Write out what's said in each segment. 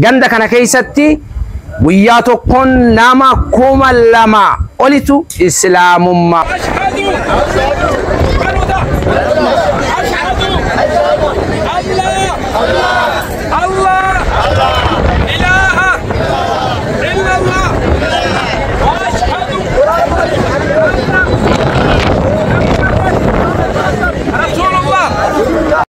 Ganda kana keessatti guyyaa tokkoon nama kuma lama olitu Islaamummaa.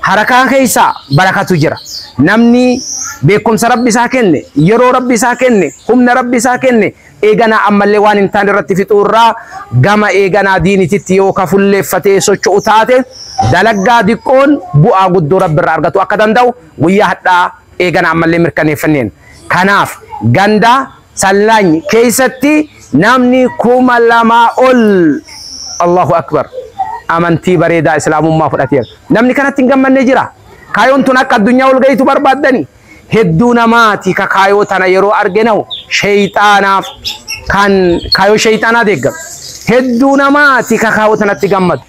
Harakaa keessa barakatu jira. Namni beekumsa Rabbi isaa kenne, yeroo Rabbi isaa kenne, humna Rabbi isaa kenne eeganaa ammallee waan hin taane irratti fixuu irraa gama eeganaa diinititti yoo ka fulleeffatee socho'u taate dalaggaa diqqoon bu'aa guddoo Rabbi irraa argatu akka danda'u guyyaa hadhaa eeganaa ammallee mirkaneeffanneen. Kanaaf ganda Sallaany keessatti namni 2000 ol Allahu Akbar amantii bareedaa Islaamummaa fudhateera. Namni kanatti hin gammanne jira. Kaayoon tun akka addunyaa ol gahitu barbaaddani. Hedduu namaati ka kaayoo tana yeroo arge nahu sheeyxaanaaf kan kaayoo sheeyxaanaa deeggaru. Hedduu namaati ka kaayoo tanatti gammadu.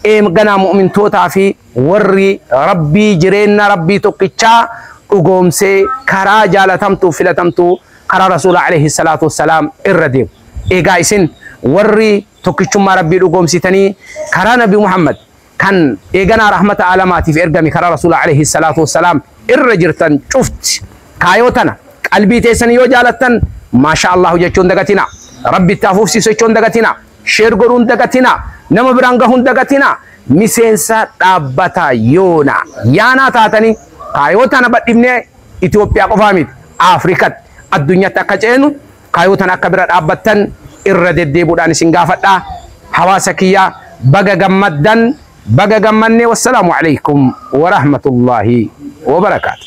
Eem ganaa mu'mintootaa fi Warri Rabbii jireenna Rabbii tokkichaa dhugoomsee karaa jaalatamtuuf filatamtuu karaa Rasuula aleyhi salaatu wassalaam irra deemu. Eegaa isin warri tokkichummaa Rabbii dhugoomsitanii karaa Nabi Muhammad kan eeganaa rahmata aalamaatiif ergame karaa Rasuula aleyhi salaatu wassalaam irra jirtan cufti kaayoo tana qalbii teessanii yoo jaalattan maashaa Allaahu jechuu hin dagatinaa. Rabbi itti haa fufsiisu jechuu hin dagatinaa. Share godhuu hin dagatinaa. Nama biraan gahuu hin dagatinaa. Miseensa dhaabbata yoona yaanaa taatanii kaayoo tana badhifnee Itoophiyaa qofaa miti Afrikatti addunyatti akka ceenu kaayoo tana akka bira dhaabbattan irra deddeebuudhaan isin gaafadha. Hawaasa kiyya baga gammaddan baga gammanne wassalaamu alaikum warahmatullaahi wabarakaatu.